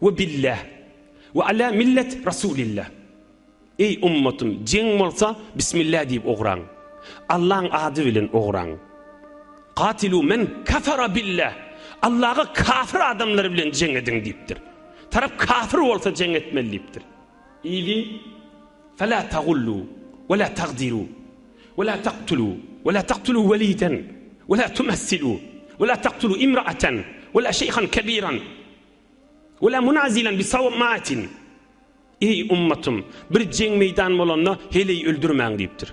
We billah we ala millet rasulillah. Eý ummatym jeň bolsa bismillah diýip ugraň. Allaň ady bilen ugraň. Katilu men kafara billah. Allaga kafir adamlar bilen jeň ediň diýipdir. Tarap kafir bolsa jeň etmeli diýipdir. Ýygy fela tagullu wela tagdiru wela taktulu wela taktulu weliden wela tumassilu wela taktulu imraatan wela şeýhan kebiran Wela munazilen bi sawmatin, Eý, ummatym, bir jeň meýdan bolanda heleý öldürmäň diýipdir.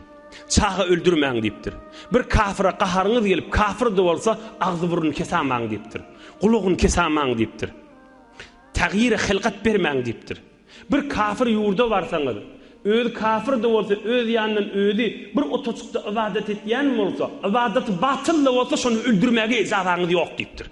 Çaga öldürmäň diýipdir. Bir kafyra gaharyňyz gelip, kafyr-da bolsa, agzy-burnuny kesamaň diýipdir. Gulagyny kesamaň diýipdir. Tagyra hylgat bermäň diýipdir. Bir kafyr ýurda barsaňyz, özi kafyr-da bolsa, öz ýanyndan özi bir otacykda ybadat etýän bolsa, ybadaty batyl-da bolsa, şony öldürmäge ejazaňyz ýok diýipdir.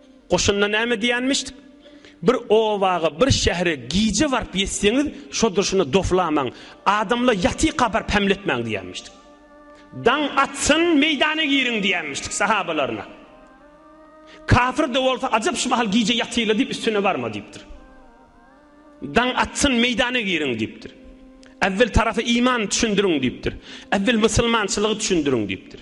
Goşunda näme diýenmişdik? Bir obaga, bir şähere gije baryp ýetseňiz, şo durşuna doflamaň, adamlar ýatyka baryp hämletmäň diýenmişdik. Daň atsyn, meýdana giriň diýenmişdik sahabalaryna. Kafir-de bolsa, ajap şu mahal gije ýatyla diýip üstüne barma diýipdir. Daň atsyn, meýdana giriň diýipdir. Äwwel tarapy iman düşündiriň diýipdir. Äwwel musulmançylygy düşündiriň diýipdir.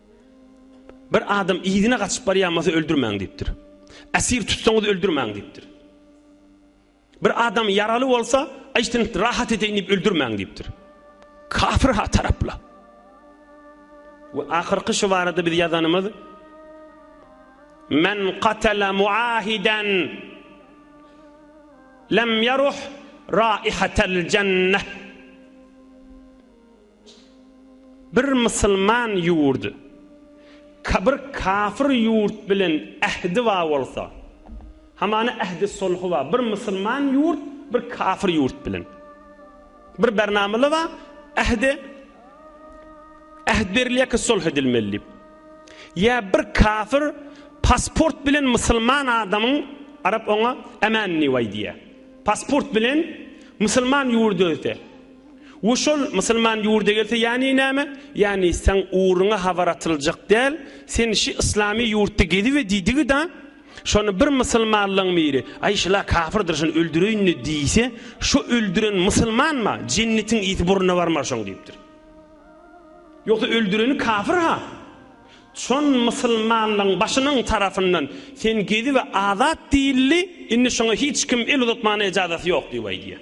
Bir adam yzyna gaçyp barýan bolsa öldürmäň diýipdir. Esir tutsaňyz öldürmäň diýipdir. Bir adam ýaraly bolsa, aýşdan rahat edeýin diýip öldürmäň diýipdir. Kafir ha tarapla. We ahyrky şu barada biz ýazanymyz Men qatala muahidan lam yaruh raihatal jannah. Bir musulman ýurt bir kafir ýurt bilen ähdi bar bolsa, hamana ähdi sulhy bar. Bir musulman ýurt bir kafir ýurt bilen bir bernamala bar, ähdi äht berilýär ki sulh edilmeli diýip. Ýa bir kafir pasport bilen musulman adamyň arap oňa ämänni waý diýýär. Pasport bilen musulman ýurda öte. We şol musulman ýurda gelse ýani näme? Ýani seň ugruňa habar atyljak däl, sen şi yslamy ýurtda gezibe diýdigi-da, şony bir musulmanlyň biri, aý şula kafyrdyr şony öldüreýin-le diýse, şo öldüren musulmanma, jennetiň ysy burnuna barmar şoň diýipdir. Ýogsa öldüreni kafyr-ha. Şon musulmanlyň başynyň tarafyndan sen gezibe azat diýildi, indi şoňa hiç kim el uzatmana ejazaty ýok diýip aýdýar.